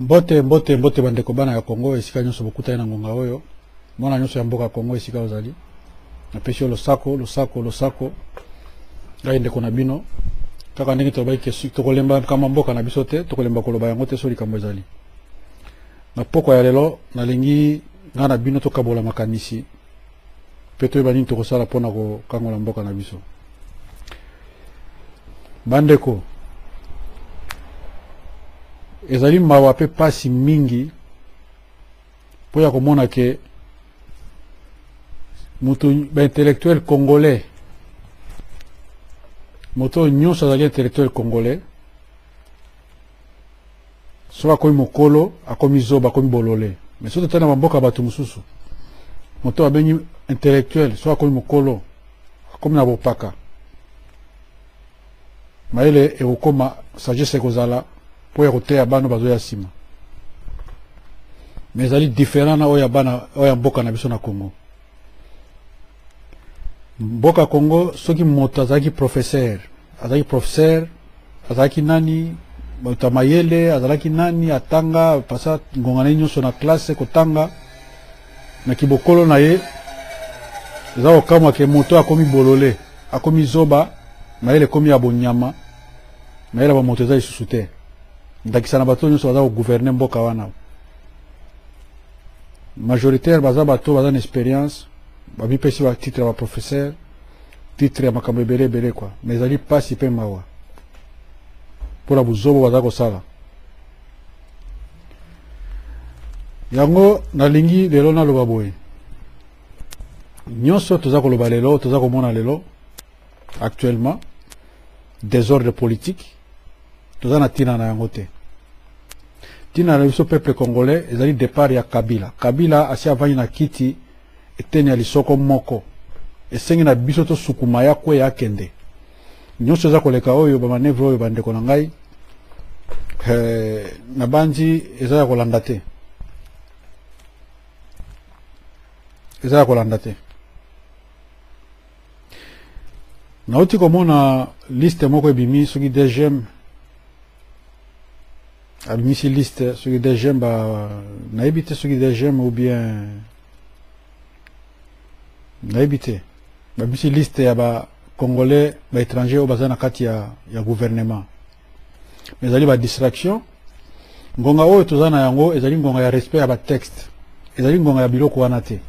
Mbote mbote mbote bandeko bana ya Kongo esika nyonso bokutani na ngonga oyo mwana nyonso ya mboka Kongo esika ozali napesi yo losako losako losako ngai ndeko na bino kaka ndenge tolobaki tokolemba makambo ya mboka na biso te tokolemba koloba yango te so likambo ezali na pokwa ya lelo nalingi ngai na bino tokabola makanisi mpe toyeba nini tokosala mpo na kokangola mboka na biso bandeko ezali mawa mpe mpasi mingi mpo ya komona ke moto baintellectuel congolais moto oyo nyonso azali intellectuel congolais soki akomi mokolo akomi zoba akomi bolole mais soki totali na bamboka ya bato mosusu moto babengi intellectuel soki akomi mokolo akomi na bopaka mayele ekokoma sagesse ekozala mpo ya koteya bana bazoya nsima mais ezali différent na oyo ya bana oyo ya mboka na biso na congo mboka congo soki moto azalaki professeur azalaki professeur azalaki nani moto ya mayele azalaki nani atanga apasa ngonga na ye nyonso na classe kotanga na kibokolo na ye eza kokamwa ke moto akomi bolole akomi zoba mayele ekomi ya bonyama mayele ya bamoto eza lisusu te ndakisa na bato nyonso baza koguverne mboka wana majoritaire baza bato baza na experience bamipesi ba titre ya baprofesseur titre ya makambo ebele ebele kua ma ezali mpasi mpe mawa mpo na bozobo baza kosala yango nalingi lelo naloba boye nyonso toza koloba lelo toza komona lelo actuellement désordre politique toza na tina na yango te tina na biso peuple congolais ezali départ ya kabila kabila asi avandi na kiti eteni ya lisoko moko esengi na biso tosukuma ya kwe ya kende nyonso eza koleka oyo bamanevre oyo bandeko na ngai eh, nabanzi eza ya kolanda te eza ya kolanda te nauti komona liste moko ebimi soki dgm abimisi liste soki dgm ba nayebi te soki dgm ou bien nayebi te babimisi liste ya ba congolais ba étranger oyo baza na kati ya, ya gouvernement mais ezali ba distraction ngonga oyo toza na yango ezali ngonga ya respect ya batexte ezali ngonga ya biloko wana te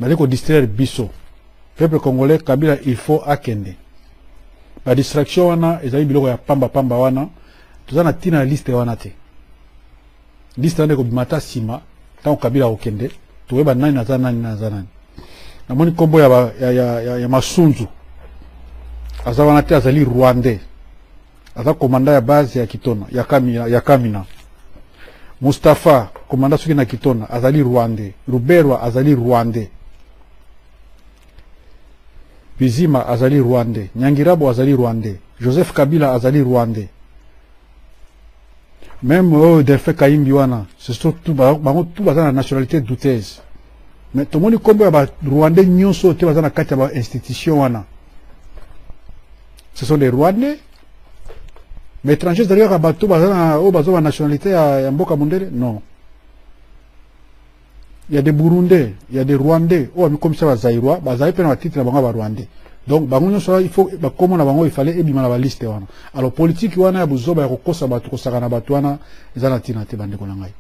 bazali kodistraire biso peuple congolais kabila il faut akende badistraction wana ezali biloko ya pamba pamba wana toza na ntina ya liste wana te liste wana ekobima ata nsima ntango kabila akokende toyeba nani naza nani naza nani namoni nkombo ya, ya, ya, ya, ya masunzu aza wana te azali rwandais aza komanda ya base ya kitona ya kamina, ya kamina. mustapha komanda soki na kitona azali rwande ruberwa azali rwande bizima azali rwande nyangirabo azali rwande joseph kabila azali rwande Meme oyo oh, Delphin Kayimbi wana, surtout bango tout baza na nationalité douteuse. Mais tomoni kombo ya ba Rwandais nyonso te baza na kati ya ba institution wana. Ce sont des Rwandais. Mais étrangers derrière bato baza na oyo oh, bazo ba nationalité ya, ya mboka mundele? Non. ya de burundais ya de rwandais oyo amikomisa bazairois bazali mpe na batitre na bango ya barwandais donc bango nyonso wana il faut bakoma na bango ifale ebima na baliste wana alors politiki wana ya buzoba ya kokosa bato kosakana bato wana eza na ntina te bandeko na ngai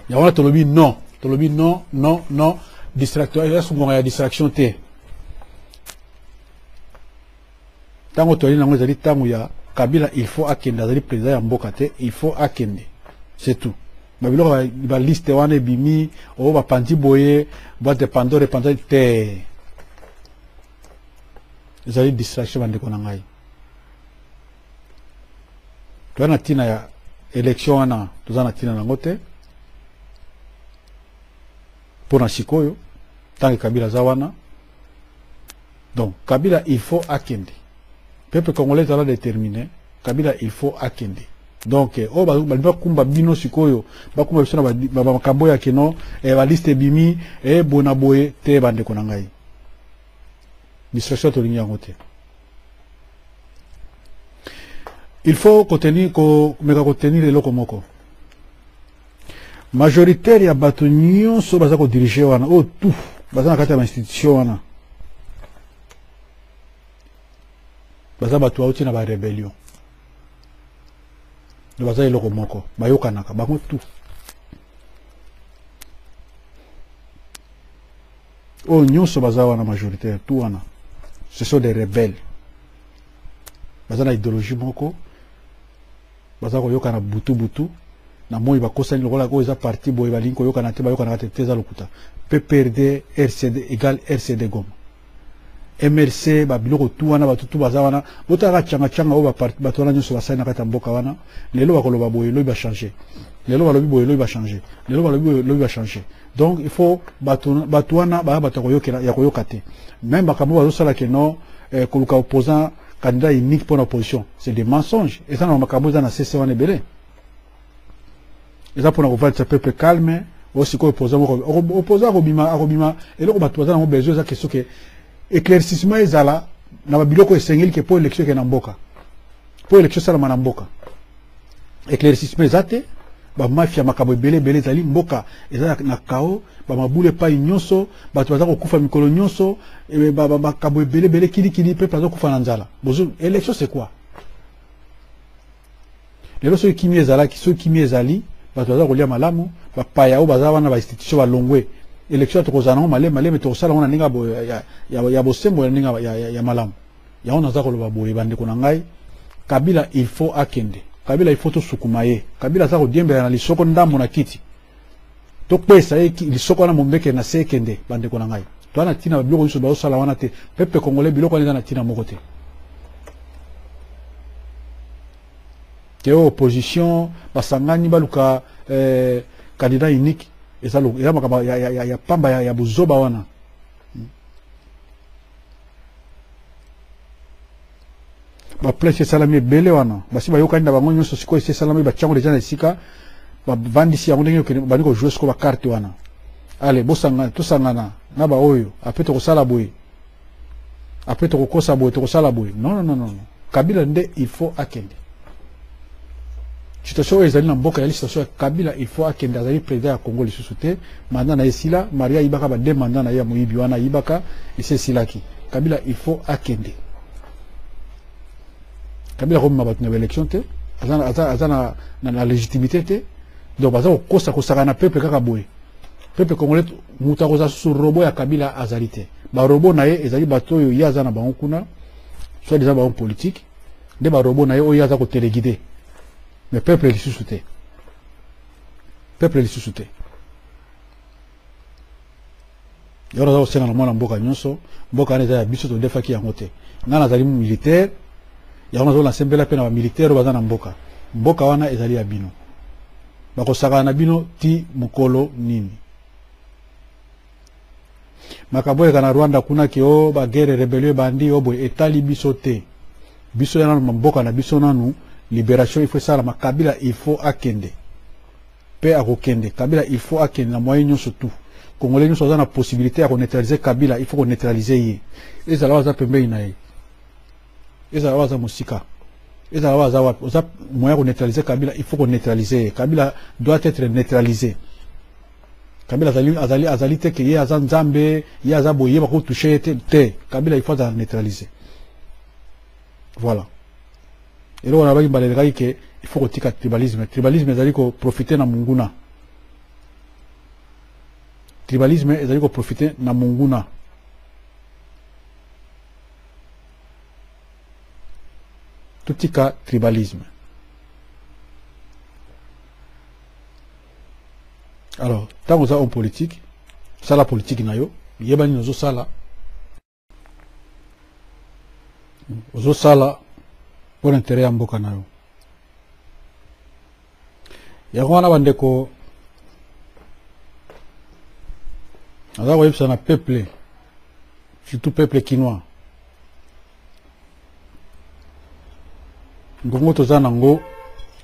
yango wana tolobi non tolobi non non non distraction eza sungonga ya distraction te ntango toyali nango ezali ntango ya kabila il faut akende azali président ya mboka te il faut akende c'est tout ba biloko ba liste wana ebimi o oh, bapanzi boye boite de pandore epanzani te ezali distraction bandeko na ngai toza na ntina ya élection wana toza na ntina nango te mpo na sikoyo ntango kabila aza wana Donc Kabila il faut akende. Peuple congolais ezala déterminé, Kabila il faut akende. Donc eh, oyo oh, balingi bakumba bino sikoyo, bakumba biso na makambo ya keno, eh, ba liste ebimi, eh, bona boye te bandeko na ngai. Distraction tolingi yango te. Il faut kotenir ko meka kotenir eloko moko. majoritaire ya bato nyonso baza kodirige wana oyo tout baza na kati ya bainstitution wana baza bato bauti na barebellion do baza eloko moko bayokanaka bango tout oyo nyonso baza wana majoritaire tout wana ce sont des rebelles baza na idéologie moko baza koyokana butu butu na moi bakosani lokola oyo eza parti boye balingi koyokana te bayokanaka te te eza lokuta pprd rcd egal rcd goma mrc babiloko tu wana bato tu baza wana botalaka cangacanga oyo bato wana nyonso basali na kati ya mboka wana lelo bakoloba boye lobi bachange lelo balobi boye lobi bachange lelo balobi boye lobi bachange donc il faut bato wana baya bato ya koyoka te meme makambo bazosala keno eh, koluka opposant candidat unique pona opposition c'est des mensonges eza na makambo eza na CC wana ebele eza pona kovalisa peuple calme oyo sikoyo opposant moko opposant akobima akobima eloko bato baza nango besoin eza question ke éclaircissement ezala na babiloko esengeli ke mpo élection eke na mboka mpo élection esalama na mboka éclaircissement eza te bamafia makambo ebele ebele ezali mboka eza na kao bamabulu epai nyonso bato baza kokufa mikolo nyonso eh, makambo ebele ebele kilikili mpe aza kokufa na nzala élection c'est quoi lelo soki kimia ezalaki soki kimia ezali bato baza kolia malamu bapaya oyo baza wana bainstitution balongwe élection tokozala nango malema malema tokosala yango na ndenge ya bosembo ya ndenge ya malamu yango naza koloba boye bandeko na ngai kabila il faut akende kabila il faut tosukuma ye kabila aza kodiembela na lisoko ndambo na kiti tokpesa ye lisoko wana mombekele na se ekende bandeko na ngai toa na ntina biloko nyonso bazosala wana te pepe congolais biloko wana eza na ntina moko te te opposition basangani baluka eh, candidat unique eza makambo ya pamba ya buzoba wana ba place esalami ebele wana basi bayokani na bango nyonso sikoyo esi esalami batiango deja na esika bavandisi yango ndenge bandi kojoue sikoyo bakarte wana ale bosangana tosangana na baoyo apres tokosala boye apres tokokosa boye tokosala boye non non non kabila nde il faut akende situation oyo ezali na mboka ezali situation ya kabila il faut akende azali président ya congo lisusu te manda na ye esila maria ayibaka bade manda na ye ya moyibi wana ayibaka esi esilaki kabila il faut akende kabila akomema bato na baélection te aza, na, aza, aza na, na, na légitimité te donc baza kokosa kosaka na peuple kaka boye peuple congolais moto akozala susu robo ya kabila azali te barobo na ye ezali bato oyo ye aza na bango kuna soit disant bango politique nde ba robot na ye oyo aza ko teleguide mais peuple lisusu te peuple lisusu te yoro aza kosenga na mwana mboka nyonso mboka wana eza ya biso todefaki yango te ngai nazali militaire yango nazo nasembela mpe na bamilitaire oyo baza na mboka mboka wana ezali ya bino bakosakana na bino ti mokolo nini makambo oyeka na rwanda kuna ke o oh, bagere rebelio ebandi o oh, boye etali biso te biso ya nanu mamboka na biso nanu liberation il faut esalama kabila il faut akende mpe akokende kabila il faut akende na moyen nyonso tu congolais nyonso aza na possibilité ya koneutralize kabila il faut koneutralize ye ezala oyo aza pembeni na ye ezala oyo aza mosika ezala oyo aza wapi oza moyen ya koneutralize kabila il faut koneutralize ye kabila doit être neutralise Kabila azali azali azali te ke ye aza nzambe ye aza boye bako touche ye te te Kabila il faut azala neutraliser voilà eloko nabaki mbala elekaki ke il faut kotika tribalisme tribalisme ezali koprofite na monguna tribalisme ezali koprofite na monguna totika tribalisme alors ntango oza homme politique sala politique na yo yeba nini ozosala ozosala mpo na intere ya mboka na yo yango wana bandeko aza koyebisa na peuple surtout peuple kinois ngongo toza na yango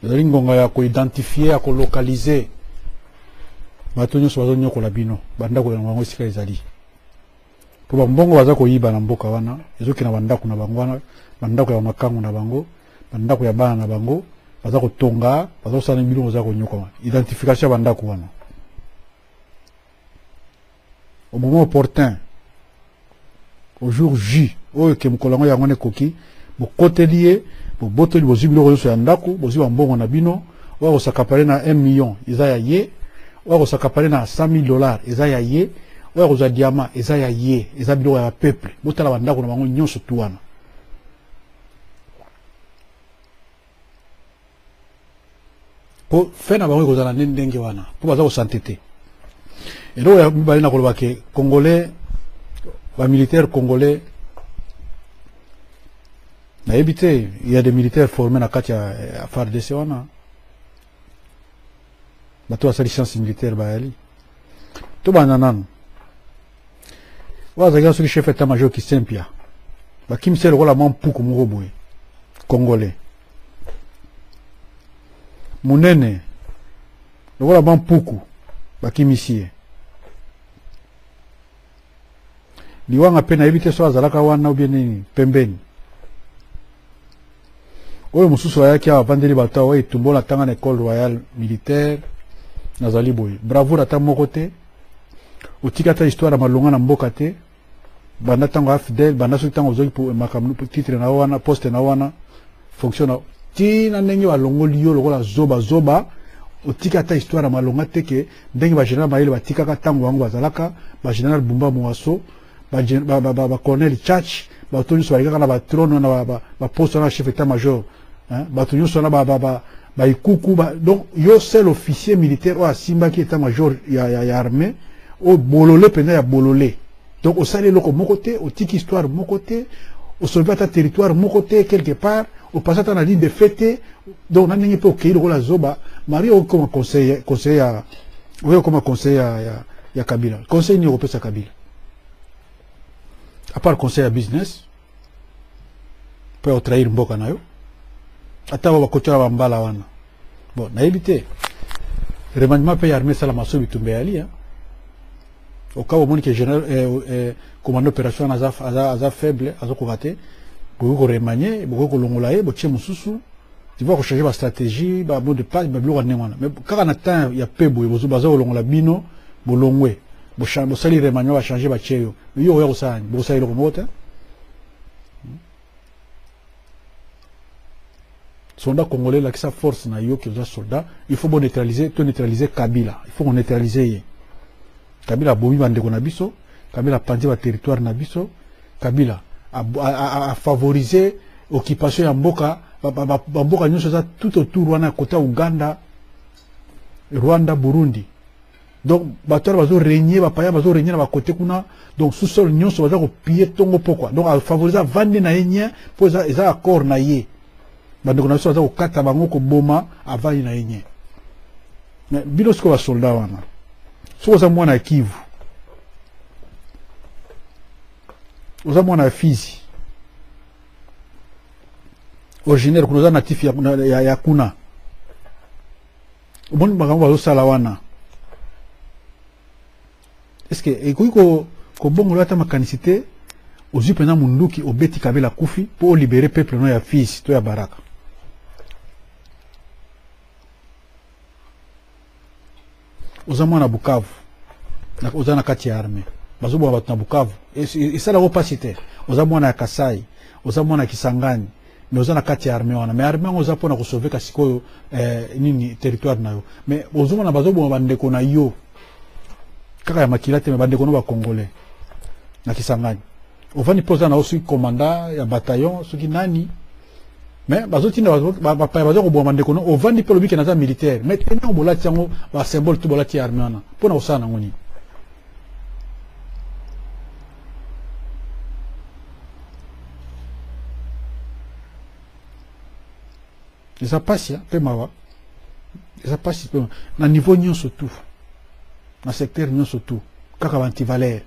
ezali ngonga ya koidentifie ya kolokalize bato nyonso bazonyokola bino bandako yango yango esika ezali mpo bambongo baza koyiba na mboka wana ezokende na bandako na bango wana bandako ya bamakango na bango bandako ya bana na bango baza kotonga baza kosala na biloko baza konyokoma identification ya bandako wana au moment opportun au jour ju oyo ke mokolo yango yango wana ekoki bokoteli ye bobotoli bozwi biloko nyonso ya ndako bozwi bambongo na bino oyo akosakapale na 1 million eza ya ye oyo akosakapale na 100 000 dollars eza ya ye oyo akozwa diama eza ya ye eza biloko ya bapeuple botala bandako na bango nyonso tu wana po fe na bango ekozala nde ndenge wana po baza kosante te eloko ya mibale na koloba ke congolais bamilitaire congolais nayebi te ya de militaire forme na kati ya fardc wana bato basali science militaire bayali tobanda nanu oyo azalaki na soki chef etat major kisempia bakimisi ye lokola mwa mpuku moko boye congolais monene lokola mwa mpuku bakimisi ye liwanga mpe nayebi te soki azalaka wana obie nini pembeni oyo mosusu ayaki awa avandeli bato awa etumbola ntanga na ecole royale militaire nazali boye bravoure ata moko te otiki ata histoire ya malonga na mboka te banda ntango ya fidèle banda soki ntango ozwaki makambo titre na yo wana poste na yo wana fonction na ti na ndenge balongoli yo lokola zoba zoba otiki ata histoire ya malonga te ke ndenge bageneral mayele batikaka ntango bango bazalaka bageneral bumba moaso bacolonel chach bato nyonso balekaka na batrone wana baposte wana chef etat major bato nyonso wana baikuku donc yo seul officier militaire oyo asimbaki etat major ya armée oyo bolole mpenza ya bolole donc osali eloko moko te otiki histoire moko te osolobi ata territoire moko te quelque part opasi ata na ligne de fait te donc na ndenge mpe okei lokola zoba mari okoma conseil conseil ya oyo okoma conseil ya, ya, ya kabila conseil nini okopesa kabila apart conseil ya business mpo ya kotrahir mboka na yo ata ba bakotyola bambala wana bon nayebi te remaniement mpe ya armée esalama so bitumba eyali hein. okaba omoni ke général eh, eh, commande opération wana aza, aza, aza faible azokoka te bokoki koremanie bokoki kolongola ye botie mosusu tiba kochanger bastratégie bamot de passe babiloko ya ndenge wana mais kaka na temps ya pe boye baza kolongola bino bolongwe bosali remaniement bachange batie yo yo okoya kosala nini bokosala eloko moko te hmm? soldat congolais lakisa force na yo oza soldat il faut boneutraliser to neutraliser kabila il faut koneutraliser ye kabila abomi bandeko na biso kabila apanzi baterritoire na biso kabila afavorise occupation ya mboka bamboka nyonso eza tout autour wana kota uganda rwanda burundi donc bato wana bazo regne bapaya bazo regne na bakote kuna donc sous-sol nyonso baza kopille ntongo pokwa donc afavorise avandi na ye nien mpo eza, eza accord na ye bandeko na biso baza kokata bango koboma avandi na ye nien bino sikoyo basoldat wana soki oza mwana ya kivu oza mwana ya fizi originaire kuna oza natif ya, ya, ya kuna omoni makambo bazosala wana eske ekoki kobongola ata makanisi te ozwi mpenza monduki obeti kabela kufi mpo olibere peuple no ya fils to ya baraka oza mwana bukavu oza na kati ya arme bazoboma bato na bukavu esalako mpasi te oza mwana ya kasai oza mwana ya kisangani mais oza na kati ya armée wana mais armée yango oza pona ko sauver ka sikoyo eh, nini territoire na yo mais ozomona bazoboma bandeko na yo kaka ya makila te mais bandeko na ba congolais na kisangani ovandi mpe oza na yo soki commanda ya bataillon soki nani mais bazotinda bapaya baza koboma bandeko no ovandi mpe olobiki naza militaire mais te ntango bolati yango basymbole to bolati ya armée wana mpo na kosala nango nini eza mpasi ya mpe mawa eza mpasi mpe na niveau nyonso tout na secteur nyonso tout kaka baantivalere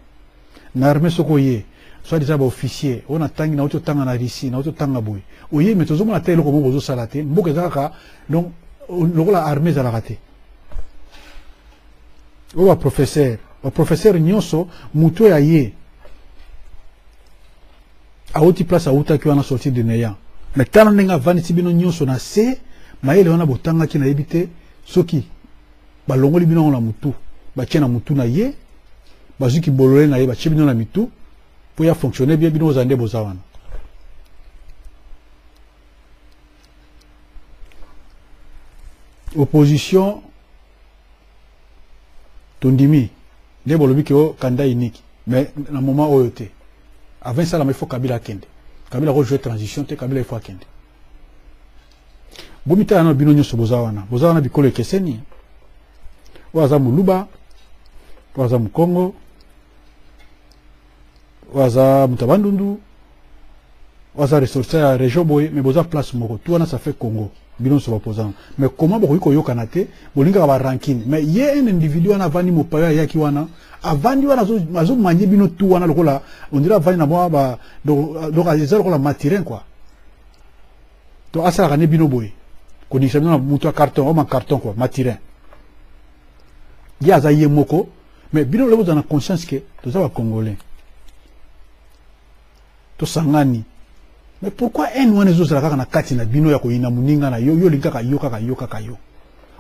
na armée soki oye soit deja baofficier oyo natangi nauti otanga na russie nauti otanga boye oye me tozomona ata eloko moko bozosala te mboka eza kaka donc lokola armée ezalaka te oyo baprofesere baprofesere nyonso moto oyo aye awuti place awutaki wana sorti de neya me tala ndenge avandisi bino nyonso na se mayele wana botangaki nayebi te soki balongoli bino yango na motu batie na motu na ye bazwi kibolole na ye batie bino na mitu mpo ya fonctionne bie bino ozala nde boza wana opposition tondimi nde bolobi ke o oh, candidat unique mais na moment oyo te avant esalama il faut kabila akende kabila akojouer transition te kabila il faut akende bomitala na bino nyonso boza wana boza wana bikolo ekeseni oyo aza moluba oyo aza mokongo oyo aza moto ya bandundu oyo aza ressortissant ya région boye mais boza place moko tu wana ça fait congo bino nyonso baopposant mais comment bokoki koyokana te bolingaka barankine mais ye un individu wana avandi mopayo ayaki wana avandi wana azomanye bino tu wana lokola ondira avandi na mwa ba donc eza lokola matirin quoi to asalaka nde bino boye koningisa bino na moto ya carton oma carton quoi matirin ye aza ye moko mais bino lelo bozala na conscience ke toza bacongolais tosangani mais pourquoi haine wana ezozala kaka na kati na bino ya koyina moninga na yo yo olingi kaka yo kaka yo kaka yo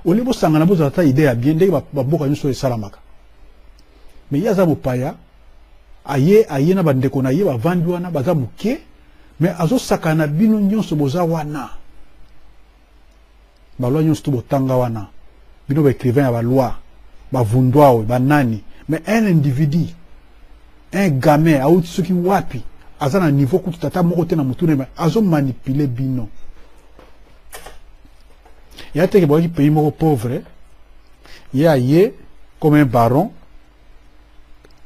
olie bosangana bozala ata idee ya bien ndenge bamboka nyonso esalamaka mais ye aza mopaya aye aye na bandeko na ye bavandi wana baza moke mais azosakana bino nyonso boza wana balwa nyonso to botanga wana bino ba écrivain ya balwa bavundwawe banani mais un individu un gamin auti soki wapi aza na niveau kutu tata moko te na motuna me azo manipule bino ya teke bwaki pays moko pauvre ye aye comme un baron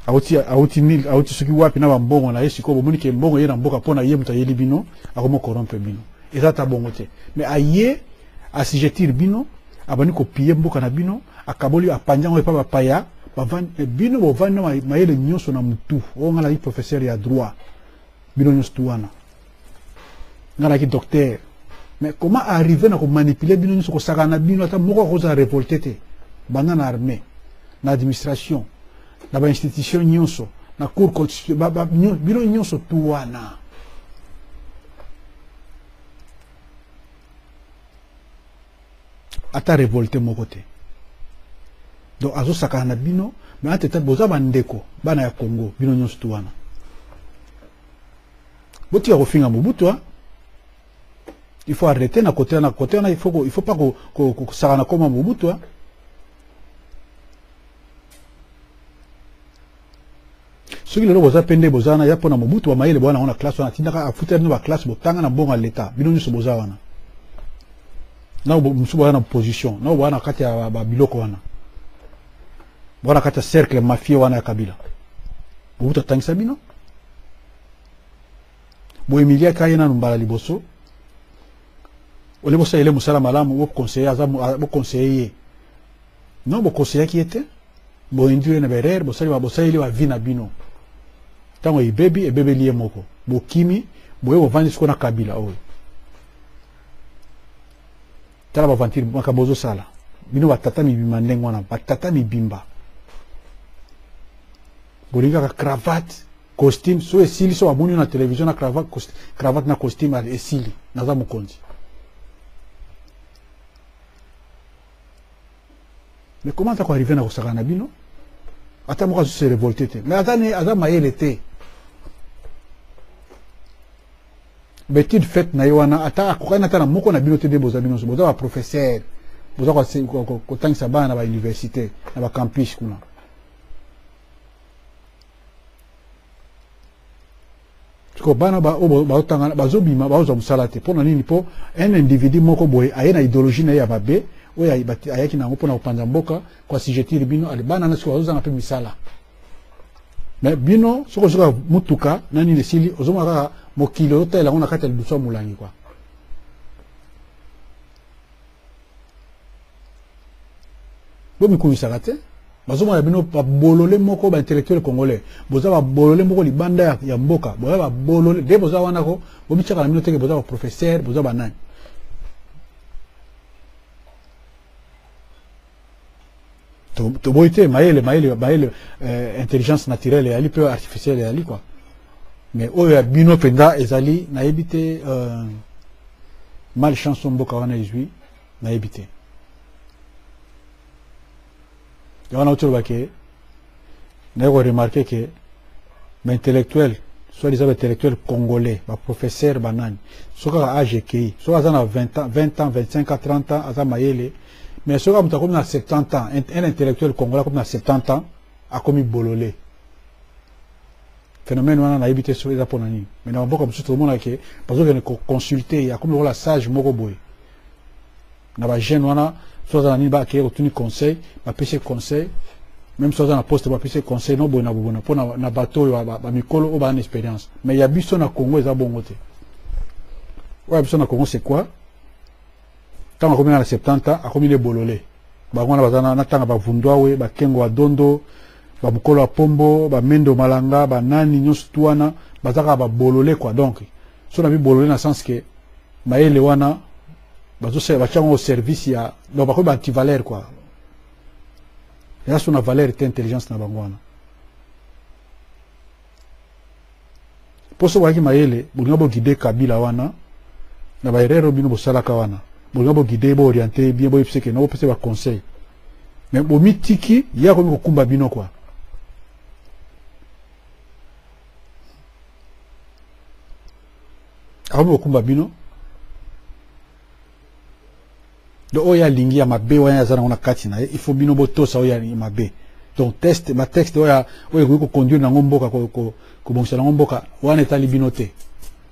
awuti awuti nil awuti soki wapi na bambongo na ye sikoyo bomoni ke mbongo eye na mboka mpo na ye moto ayeli bino akomi corrompre bino eza ata bongo te mais aye asigetir bino abandi kopiye mboka na bino akaboli apanzi yango epa bapaya bavandi bino bovandi na mayele nyonso na motu oyo ngai nazali professeur ya droit bino nyonso tu wana nga naki docteur mais comment arrive na komanipule bino nyonso kosakana na bino ata moko akozala révolte te banda na armée na administration na bainstitution nyonso na cour bino nyonso tu wana ata révolte moko te donc azosakana na bino mais antete boza bandeko bana ya congo bino nyonso tu wana botika kofinga mobutu hein? il faut arrêter na kote na kote na il faut il faut pas ko ko ko sakana koma mobutu hein? soki lelo boza mpe nde boza wana ya mpo na mobutu bamayele bowana yango na classe wana atindaka afutela bino baklasse botanga na mbongo ya leta bino nyonso boza wana nao mosusu boza na position nao boza na kati ya babiloko wana boza na kati ya cercle mafie wana ya kabila mobutu atangisa bino boye milia kaye nanu mbala liboso ole bosalele mosala malamu bokonseye aza bokonseye ye non bokonseyaki ye te boindire na berere bosaleli bavi na bino ntango ebebi ebebeli ye moko bokimi boye bovandi siko na kabila oyo tala bavantire makambo ozosala bino batata mibimba ndenge wana batata mibimba bolingaka cravate costume so esili so bamoni na television na cravate, cravate na costume esili naza mokonzi mais comment ako arrive na kosaka na bino ata moko azose revolte te mais aza, ne, aza mayele te betide fete na ye wana ata akokani ata na moko na bino te nde boza bino boza baprofesseur boza kotangisa bana na bauniversité na bacampus kuna sikoyo bana oyo bazotangana bazobima bazwa mosala te mpo na nini mpo un individu moko boye aye na idéologie na ye ya mabe oyo ayaki na yango mpo na kopanza mboka koasijetire bino ale bana na sikoyo bazozanga mpe misala me bino soki ozoka motuka na nini esili ozomona kaka mokili ozotalela yango na kati ya lidusu ya molangi kwa bomikumisaka te bazomona bino babolole moko baintellectuel congolais boza babolole moko libanda ya, ya mboka boza babolole de boza wana ko bomityaka na bino teke boza baprofesseur boza banani toboyi te mayele mayele mayele euh, intelligence naturelle eyali mpe artificielle eyali quoi mais oyo ya bino mpenza ezali nayebi te euh, mal chance mboka wana ezwi nayebi te yango na otoloba ke naye ko remarquer que ba intellectuel soit disant ba intellectuel congolais ba professeur ba nani soki kaka age ekei soki aza na 20 ans 20 ans 25 ans 30 ans aza mayele mais soki moto akomi na 70 ans un intellectuel congolais akomi na 70 ans akomi bolole phénomène wana nayebi te soki eza mpo na nini mais na bamboka mosusu tokomonaka ke bazokende koconsulte ye akomi lokola sage moko boye na ba jeune wana so aza na nini bakeye kotuni conseil bapesi conseil même so aza na poste bapesi conseil no boye na bobona mpo na bato oyo bamikolo oyo baa na expérience mais ya biso na congo eza bongo te oyo ya biso na congo c'est quoi ntango akomi na 70 ans akomi ne bolole bango wana baza na ntanga bavundwawe bakengo ya dondo bamokolo ya pombo bamendo malanga banani nyonso tu wana bazaka babolole kua donc so na bibolole na sens ke mayele wana bazosala batya yango service ya donc bakomi baantivaleur kua eza so na valeur te intelligence na bango wana mpo soki oyaki mayele bolinga bogide kabila wana na baerreur bino bosalaka wana bolinga bogide booriente ye bien boyebisa ekende bopesa baconseil mais bomitiki ye akomi kokumba bino kua akomi kokumba bino donc oyo alingi ya mabe wana aza nango na kati na ye il faut bino botosa oyo ya mabe donc teste batexte oyo oyo ekoki koconduire nango mboka kobongisa nango mboka wana etali bino te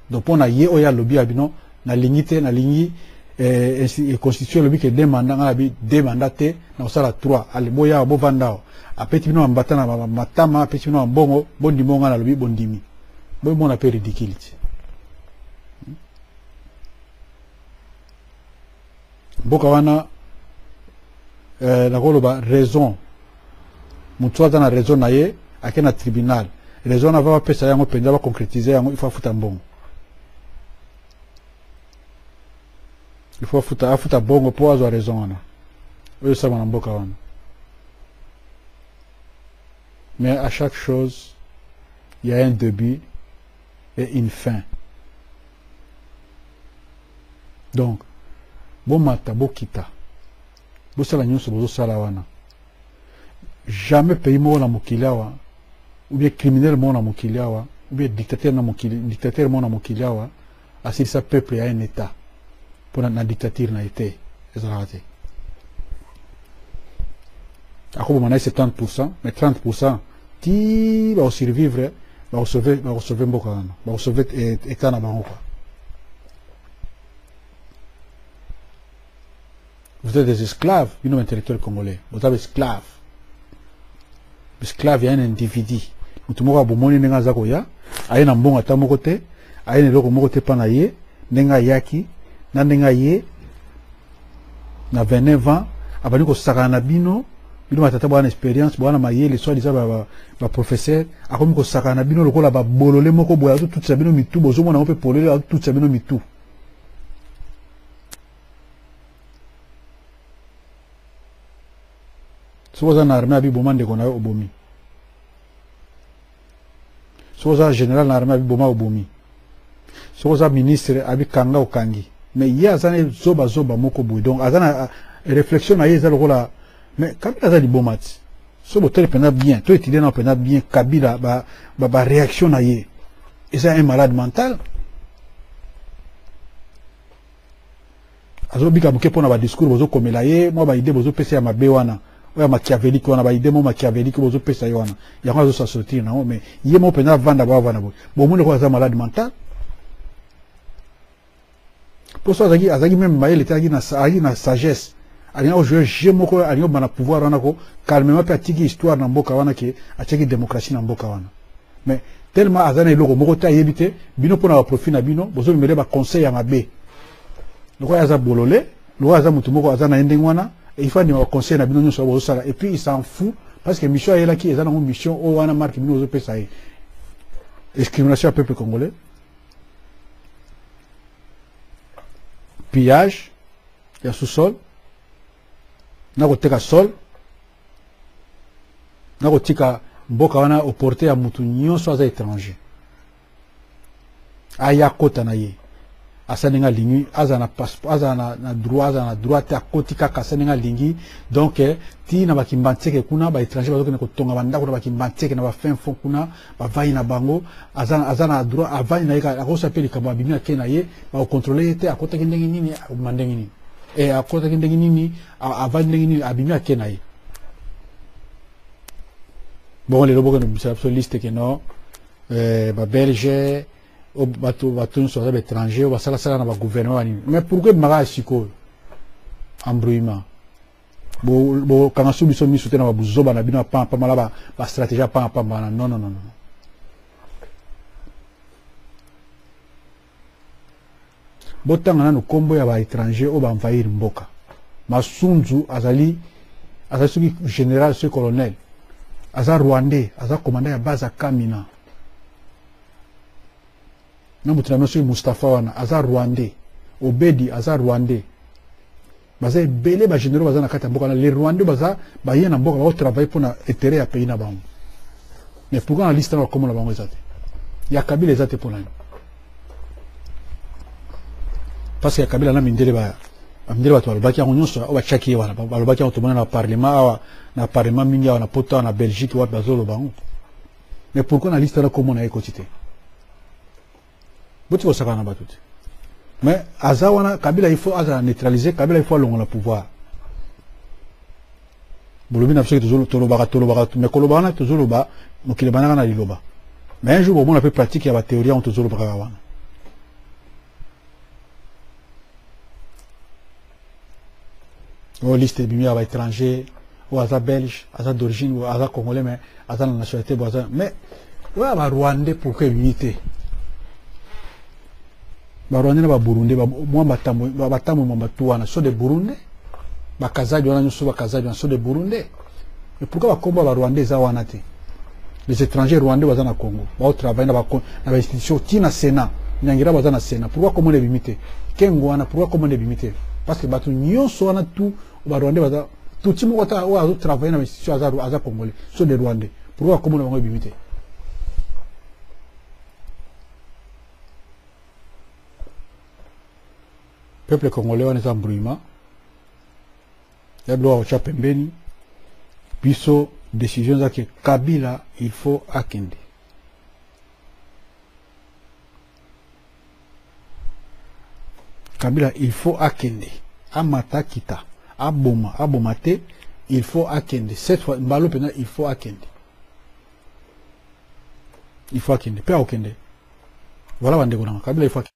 donc mpo na ye oyo alobi ya bino nalingi te nalingi eh, eh, constitution elobi ke de manda ngai nabi de manda te na kosala trois boyawa bovanda awa apeti bino bambata na matama apeti bino bambongo bondimi oyo ngai nalobi bondimi Boy mona pe ridicule ti. Hmm? Mboka wana eh, nakoloba raison motu aza na raison na ye ake na tribunal raison na va bapesa yango mpenza baconcrétise yango il faut afuta mbongo il faut afuta afuta bongo mpo azwa raison wana oyo esama na mboka wana Mais à chaque chose il y a un debut et une fin. Donc bomata bokita bosala nyonso bozosala wana jamais pays moko na mokili awa ou bien criminel moko na mokili awa ou bien dictateur na mokili dictateur moko na mokili awa asilisa peuple ya un etat mpo na dictature na ye te ezalaka te akoboma na ye 70 pourcent mais 30 pourcent ti bakosurvivre bakosauve bakosauve mboka wana bakosauve etat na bango kua Vous êtes des esclaves, une intellectuelle congolais. Vous êtes esclaves. Esclaves, il y a un individu. Mutu moko abomoni ndenge aza koya, aye na mbongo ata moko te, aye na eloko moko te pa na ye, ndenge ayaki, na ndenge aye na 29 ans, abandi kosakana na bino, bino batata bwana experience, bwana mayele, soit disant ba, ba, ba professeur, akomi kosakana na bino lokola ba bolole moko boya, tout ça bino mitu, bozomona mpe polele, tout ça bino mitu. soki oza na armée abiboma ndeko na yo obomi soki oza général na armée abiboma obomi soki oza ministre abikanga okangi mais ye aza na zoba zoba moko boye donc aza na réflexion na ye eza lokola mais kabila aza liboma ti so botali mpenza bien to étudie nao mpenza bien kabila baréaction ba, ba na ye eza un malade mental azobika moke mpo na badiskur bozokomela ye mwa baide bozopesa ya mabe wana oyo ya machiaveliki wana baide mwa machiaveliki bozopesa ye wana yango azosa sortir nango mais ye moko mpenza avanda boavanda boye bomoni lokola aza malade mental mpo so azalaki azalaki meme mayele te azalaki na sagesse alingi kojue jeu moko alingi kobima na pouvoir wana ko calmement mpe atiki histoire na mboka wana ke atiaki démocratie na mboka wana mais tellement aza na eloko moko te ayebi te bino mpo na baprofit na bino bozolumele baconseil ya mabe lokola aza bolole lokola aza motu moko aza na ye ndenge wana il faut andima baconseil na bino nyonso oyo bozosala et puis il s'en fou parce que mission ayelaki eza nango mission oyo wana marke bino bozopesa ye discrimination ya peuple congolais pillage ya sous-sol na koteka sol na kotika mboka wana oporte ya motu nyonso aza étranger aya kota na ye asa ndenge alingi azala na passeport azala na, na droit azala na droit te akoti kaka asa ndenge alingi donc eh, ti na bakimbantieke kuna baétranger bazokende kotonga bandako na bakimbantieke na bafin fond kuna bavandi na bango aza, aza na droit avandi na ye akosa mpe likambo abimi ake na ye bakokontrole ye te akotaki ndenge nini abima ndenge nini e, akotaki ndenge nini avandi ndenge nini abimi ake na ye bongo lelo bokende kobimisa biso liste ke no eh, babelge bato bato nyonso baza baétranger basalasala na bagouvernement banini mais pourkoi ebimaka ya sikoyo embrouillement bokanga su biso miso te na babuzoba na bino ya pamba pamba na bastratégie ya pamba pamba wana non non non botanga nanu nkombo ya baétranger oyo baenvahir mboka masunzu azali azali soki général soki colonel aza rwandais aza commanda ya base ya kamina na moto na bino soki mustapha wana aza rwandais obedi aza rwandais baza ebele ba généraux baza na kati ya mboka na les rwandais baza baye na mboka bao travailler mpo na intérêt ya pays na bango mais pourquoi na liste na bakomo na bango eza te ya kabila eza te mpo nani parce que ya kabila na mindele ba mindele bato balobaki yango nyonso oyo batiaki ye wana balobaki yango tomona na parlement awa na parlement mingi awa na poto awa na belgique wapi bazoloba yango mais pourquoi na liste na komo na ye ekoti te botika kosakana na bato te mais aza wana kabila il faut azala neutralise kabila il faut alongola pouvoir bolobi na biso ke tolobaka tolobaka mais koloba wana tozoloba mokili banaka na liloba mais un jour bomona mpe pratique ya bathéorie yango tozolobaka wana oyo liste ebimi ya baétranger oyo aza belge aza d'origine oyo aza congolais mais aza na nationalité bo aza mais oyo ya barwandais pourquoi ebimi te barwandais na baburundais mwa batambo mwa bato wana so de burundais bakazadi wana nyonso bakazadi wana so de burundais Et pourquoi ba kombo ba Rwandais eza wana te? Les étrangers rwandais baza na Congo, ba travailler na ba na ba institutions ti na Sénat. Nyangira baza na Sénat. Pourquoi comment les limiter? Kengo wana pourquoi comment les limiter? Parce que batu nyonso wana tout ba Rwandais baza tout ti moko ta oyo azo travailler na ba institutions aza aza congolais, so des Rwandais. Pourquoi comment bango limiter? Peuple congolais wana eza embrouillement. ya gloire otya pembeni biso décision eza ke kabila il faut akende kabila il faut akende amata kita aboma aboma te il faut akende cette fois mbalo mpenza il faut akende il faut akende mpe akokende voilà bandeko nanga kabila il faut akende